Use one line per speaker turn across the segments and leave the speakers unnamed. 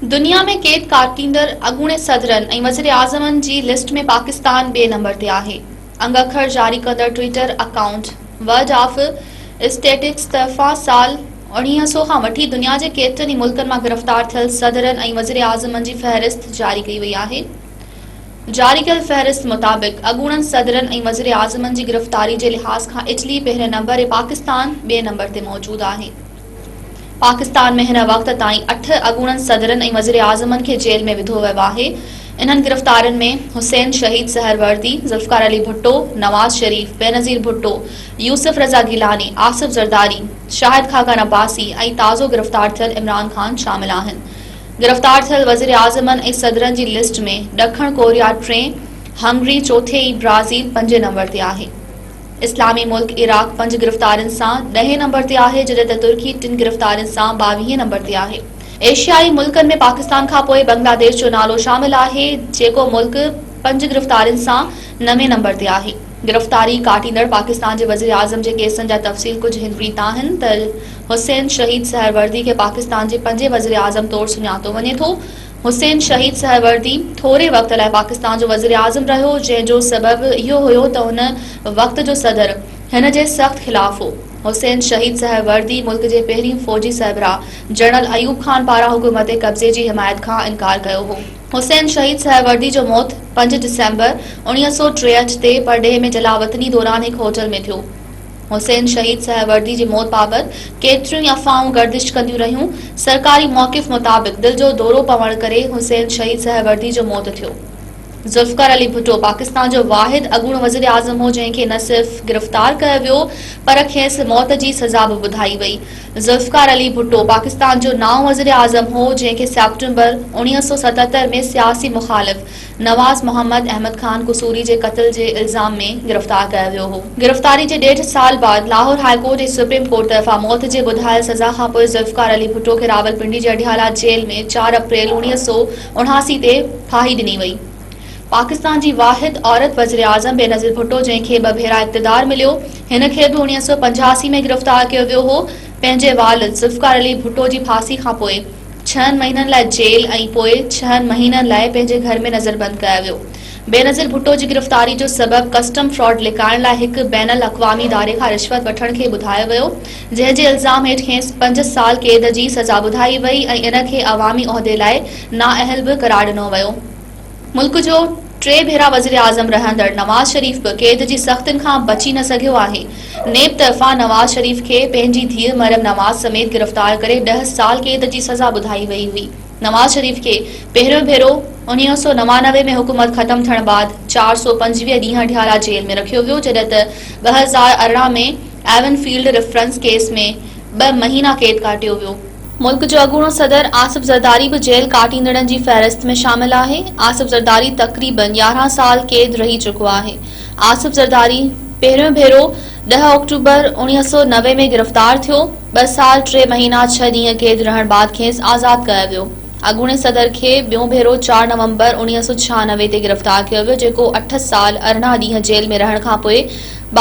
دنيا ۾ قيد ڪاٽيندڙ اڳوڻي صدرن ۽ وزيراعظمن جي لسٽ ۾ پاڪستان ٻئي نمبر تي آهي انگ اکر جاري ڪندڙ Twitter account world of statistics طرفان سال 1900 کان وٺي دنيا جي ڪيترن ئي ملڪن مان گرفتار ٿيل صدرن ۽ وزيراعظمن جي فهرست جاري ڪئي وئي آهي جاري ڪيل فهرست مطابق اڳوڻن صدرن ۽ وزيراعظمن جي گرفتاري جي لحاظ کان اٽلي پهرين نمبر ۽ پاڪستان ٻئي نمبر تي موجود آهي پاڪستان ۾ هن وقت تائين اٺ اڳوڻن صدرن ۽ وزيراعظمن کي جيل ۾ وڌو ويو آهي انهن گرفتارين ۾ حسين شهيد سهروردي، ذوالفقار علي ڀٽو، نواز شريف، بينظير ڀٽو، يوسف رضا گيلاني، آصف زرداري، شاهد خاقان عباسي ۽ تازو گرفتار ٿيل عمران خان شامل آهن گرفتار ٿيل وزيراعظمن ۽ صدرن جي لسٽ ۾ ڏکڻ ڪوريا ٽئين، هنگري چوٿين ۽ برازيل پنجين نمبر تي آهي. اسلامي ملڪ عراق پنج گرفتارين سان ڏهين نمبر تي آهي جڏهن ته ترڪي ٽن گرفتارين سان ٻاويهين نمبر تي آهي. ايشيائي ملڪن ۾ پاڪستان کانپوء بنگلاديش جو نالو شامل آهي جيڪو ملڪ پنج گرفتارين سان نوين نمبر تي آهي. گرفتاري ڪاٽيندڙ پاڪستان جي وزيراعظم جي ڪيسن جا تفصيل ڪجهه هن ريت آهن ته حسين شهيد سهروردي کي پاڪستان جي پنجين وزيراعظم طور سڃاتو وڃي ٿو، حسين شهيد سهروردي ٿوري وقت لاء پاڪستان جو وزيراعظم رهيو، جنهن جو سبب اهو هيو ته ان وقت جو صدر هن جي سخت خلاف هو. حسين شهيد سهروردي ملڪ جي پهرين فوجي سربراهه جنرل ايوب خان پاران حڪومتي قبضي جي حمايت کان انڪار ڪيو هو. حسين شهيد سهروردي جو موت پنج ڊسمبر اوڻيهه سؤ ٽيهٺ تي پرڏيهه ۾ جلاوطني دوران هڪ هوٽل ۾ ٿيو. حسين شهيد سهروردي جي موت بابت ڪيتريون ئي افواهون گردش ڪنديون رهيون. سرڪاري موقف مطابق دل جو دورو پوڻ ڪري حسين شهيد سهروردي جو موت ٿيو. ذوالفقار علي ڀٽو پاڪستان جو واحد اڳوڻو وزيراعظم هو جنهن کي نه صرف گرفتار ڪيو ويو پر کيس موت جي سزا به ٻڌائي وئي. ذوالفقار علي ڀٽو پاڪستان جو نائون وزيراعظم هو جنهن کي سيپٽمبر اوڻيهه سؤ ستهتر ۾ سياسي مخالف نواز محمد احمد خان قصوري جي قتل جي الزام ۾ گرفتار ڪيو ويو هو. گرفتاري جي ڏيڍ سال بعد Lahore high court ۽ supreme court طرفان موت جي ٻڌايل سزا کانپوء ذوالفقار علي ڀٽو کي راولپنڊي جي اڊيالا جيل ۾ چار اپريل اڻويهه سؤ اڻاسي تي ڦاهي ڏني وئي. پاڪستان جي واحد عورت وزيراعظم بينظير ڀٽو جنهن کي ٻه ڀيرا اقتدار مليو هن کي به اڻويهه سؤ پنجاهه اسي ۾ گرفتار ڪيو ويو هو پنهنجي والد ذوالفقار علي ڀٽو جي ڦاسي کانپوء ڇهن مهينن لاء جيل ۽ پوء ڇهن مهينن لاء پنهنجي گهر ۾ نظربند ڪيو ويو. بينظير ڀٽو جي گرفتاري جو سبب ڪسٽم فراڊ لڪائڻ لاء هڪ بين الاقوامي اداري کان رشوت وٺڻ کي ٻڌايو ويو، جنهن جي الزام هيٺ کيس پنج سال قيد جي سزا ٻڌائي وئي ۽ ان کي عوامي عهدي لاء نااهل به قرار ڏنو ويو. ملڪ جو ٽي ڀيرا وزيراعظم رهندڙ نواز شريف به قيد جي سختين کان بچي نه سگهيو آهي. نيب طرفان نواز شريف کي پنهنجي ڌيء مريم نواز سميت گرفتار ڪري ڏهه سال قيد جي سزا ٻڌائي وئي هئي. نواز شريف کي پهريون ڀيرو اڻ ويهه سؤ نوانوي ۾ حڪومت ختم ٿيڻ بعد چار سؤ پنجويهه ڏينهن ڍيارا جيل ۾ رکيو ويو جڏهن ته ٻه هزار ارڙهن ۾ ايون فيلڊ ريفرنس ڪيس ۾ ٻه مهينا قيد ڪاٽيو ويو. ملڪ جو اڳوڻو صدر آصف زرداري به جيل ڪاٽيندڙن جي فهرست ۾ شامل آهي آصف زرداري تقريبن 11 سال قيد رهي چڪو آهي آصف زرداري پهريون ڀيرو 10 آڪٽوبر 1990 ۾ گرفتار ٿيو ٻه سال ٽي مهينا ڇهه ڏينهن قيد رهڻ بعد کيس آزاد ڪيو ويو اڳوڻي صدر کي ٻيون ڀيرو 4 نومبر 1996 تي گرفتار ڪيو ويو جيڪو اٺ سال ارڙهن ڏينهن جيل ۾ رهڻ کانپوء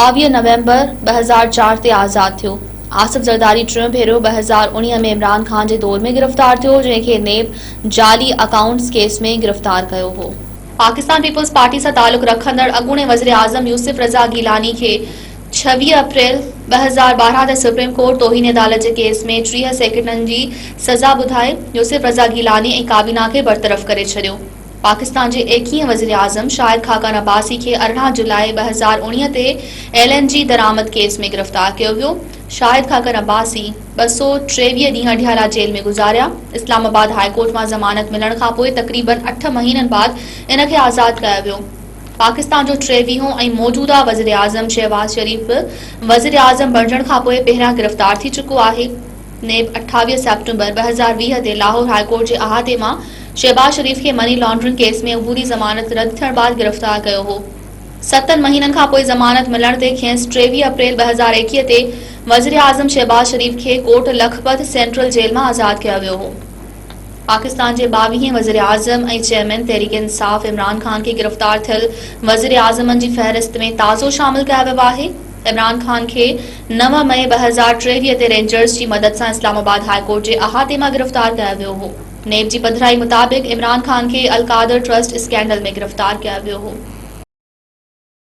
22 نومبر 2004 تي آزاد ٿيو آصف زرداري ٽيون ڀيرو ٻه هزار اڻيهه ۾ عمران خان جي دور ۾ گرفتار ٿيو، جنهن کي نيب جعلي اڪائونٽس ڪيس ۾ گرفتار ڪيو هو. پاڪستان پيپلز پارٽي سان تعلق رکندڙ اڳوڻي وزيراعظم يوسف رضا گيلاني کي ڇويهه اپريل ٻه هزار ٻارهن تي سپريم ڪورٽ توهين عدالت جي ڪيس ۾ ٽيهه سيڪنڊن جي سزا ٻڌائي يوسف رضا گيلاني ۽ ڪابينا کي برطرف ڪري ڇڏيو. پاڪستان جي ايڪيهين وزيراعظم شاهد خاقان عباسي کي ارڙهن جولاء ٻه هزار اوڻيهه تي ايل اين جي درآمد ڪيس ۾ گرفتار ڪيو ويو، شاهد خاقان عباسي ٻه سؤ ٽيويهه ڏينهن اڊيالا جيل ۾ گذاريا، اسلام آباد هاء ڪورٽ مان ضمانت ملڻ کانپوء تقريباً اٺ مهينن بعد ان کي آزاد ڪيو ويو، پاڪستان جو ٽيويهون ۽ موجوده وزيراعظم شهباز شريف به وزيراعظم بڻجڻ کانپوء پهريان گرفتار ٿي چڪو آهي. نيب اٺاويهه سيپٽمبر ٻه هزار ويهه تي لاهور هاء ڪورٽ جي احاطي مان شهباز شريف کي مني لانڊرنگ ڪيس ۾ عبوري ضمانت رد ٿيڻ بعد گرفتار ڪيو هو. ستن مهينن کانپوء ضمانت ملڻ تي کيس ٽيويهه اپريل ٻه هزار ايڪيهه تي وزيراعظم شهباز شريف کي ڪورٽ لکپت سينٽرل جيل مان آزاد ڪيو ويو هو. پاڪستان جي ٻاويهين وزيراعظم ۽ چيئرمين تحريڪ انصاف عمران خان کي گرفتار ٿيل وزيراعظمن جي فهرست ۾ تازو شامل ڪيو ويو آهي. عمران خان کي نو مئي ٻه هزار ٽيويهه تي رينجرز جي مدد سان اسلام آباد هاء ڪورٽ جي احاطي مان گرفتار ڪيو ويو هو. نيب جي پڌرائي مطابق عمران خان کي القادر ٽرسٽ اسڪينڊل ۾ گرفتار ڪيو ويو هو.